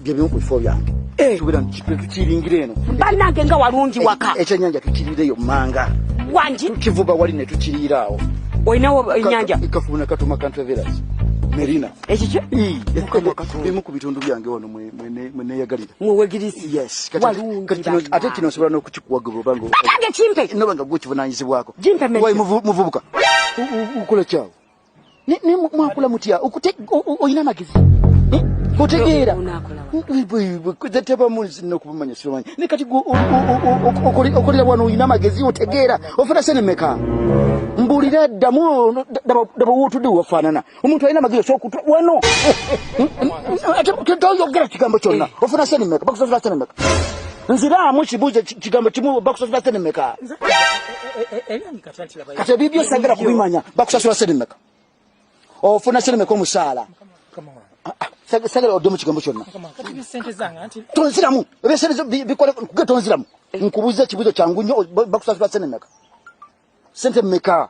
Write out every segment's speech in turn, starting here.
byebimu ku bifo byange eh. tubera tukiringira eno banange nga walungi eh, waka eh, ekyenyanja tukirireyo manga wangi tukivuba wali ne tukiriiraawo olinawo enyanja kafuna katuma kantravelas merina ekikyo bimu ku bitundu byange wano mweneyagalira mwewegirisi ate kino nsobola n'okukikuwagira obanga kimpe nobanga gwekivunanyizibwako muvubuka ukola kyawo Ne ne mwakula mutya okute oyina magezi. Eh? Otegeera. Kuze teba munsi no kubumanya simanyi. Ne kati go okoli okoli lwa no oyina magezi otegeera. Ofuna sene meka. Mbulira damu daba daba wotu de wafanana. Omuntu ayina magezi so kutwa wano. Ate kitawo yogera kigambo kyonna. Ofuna sene meka. Bakusofuna sene meka. nziraamu kibuuzo kigambo kimu bakusosola sente meka kati ebibyo sagala kubimanya bakusasula sente meka ofuna sente meka omusaala ah, ah, sagala odde mu kigambo kyonna tonziramu ebyesente bikole kuge tonziramu nkubuza ekibuzo kyangu nnyo bakusasula sente meka sente meka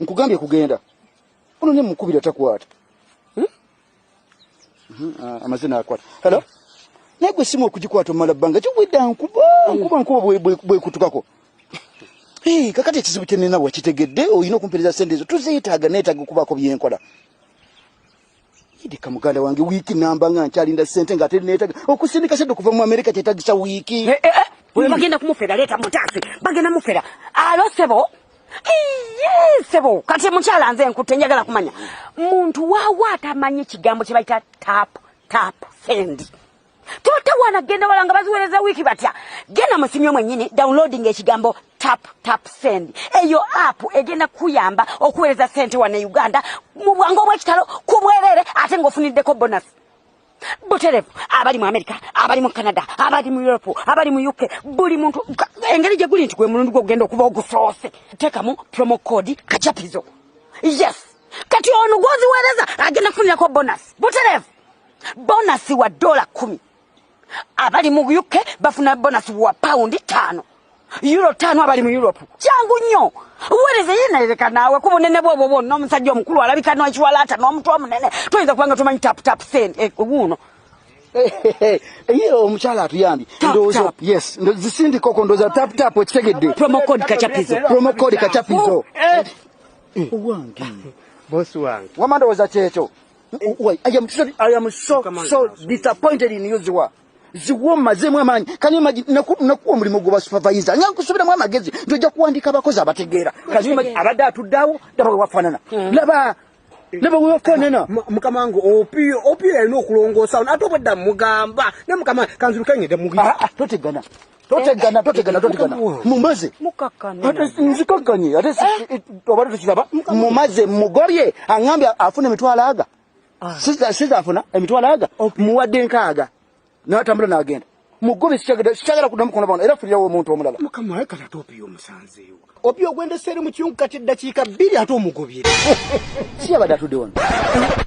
nkugambye kugenda ono ne mukubira takwata hmm? hmm, ah, amaze nakwata halo naye gwe simu okugikwata omala bbanga kiwedda nkuba nkuba nkuba bwekutukako kakati ekizibu kyenina wakitegedde olina okumpereza sente ezo tuziyitaaga neetaaga okubaako byenkola ndika muganda wange wiiki namba nga nkyalinda sente nga ate neetaga okusindika sente okuva mu amerika kyetagisa wiiki eh, eh, eh. oyo bagenda kumufera leeta mutaasi bagenda mufera alo sebo sebo kati mukyala nze nkutte njagala kumanya muntu waawo atamanyi ekigambo kye bayita tap tap sendi totawana genda wala nga baziwereza wiiki batya genda mu simu yo mwennyini downloading ekigambo tap tap send eyo app egenda kuyamba okuweereza sente wano e uganda mu bwangu obw'ekitalo ku bwereere ate ng'ofuniddeko bonus buterevu abali mu amerika abali mu canada abali mu europe abali mu uk buli muntu engeri gye guli nti gwe mulundi gwe ogenda okuba ogusoose teekamu promo code kacapizo yes kati ono gwoziweereza agenda kufunirako bonus buterevu bonasi wa dola kumi abali mu uk bafuna bonasi wa pawundi taano euro taano abali mu europe kyangu nnyo wereze yenerereka naawe ku bunene bwobwo bwonna omusajja omukulu alabika n'ekiwalaata n'omutu omunene toyinza kubanga tomanyi taputapu sente eh, wuuno ye omukyala atuyambye ndowooza yes zisindikoko ndowooza taputapu okitegedde promocode kacapizo promocode kacapizo eh. Eh. owange bosi wange wamandowooza kyekyo Why? I am sorry. I am so so disappointed in you, Ziwa. Ziwa mazemu amanyi. Can you imagine? Naku naku omuli mugu wa supervisor. Nyangu kusubira mwa magezi. Ndoja kuandika abakozi abategera. Can you imagine? Abada atudawo. Daba wafanana. Hmm. Laba. Laba wafanana. Mukama wangu opio opio ya ino kulongo sound. Ato bada mugamba. Ne mukama kanzuru kenye de mugi. Ah, ah, tote gana. totegana totegana totegana mumaze nzikakkanye ate eh? obadde tukiraba mumaze mugobye aŋambye afuna emitwalo aga ah. siza afuna emitwalo aga muwadde nkaaga natambula nagenda mugobye sikyagala kuda mukono bano era fulirawo omuntu omulala obi ogwendeseere mu kiyungu kati eddakiika bbiri ate omugobye siyabadde atudde wano eh?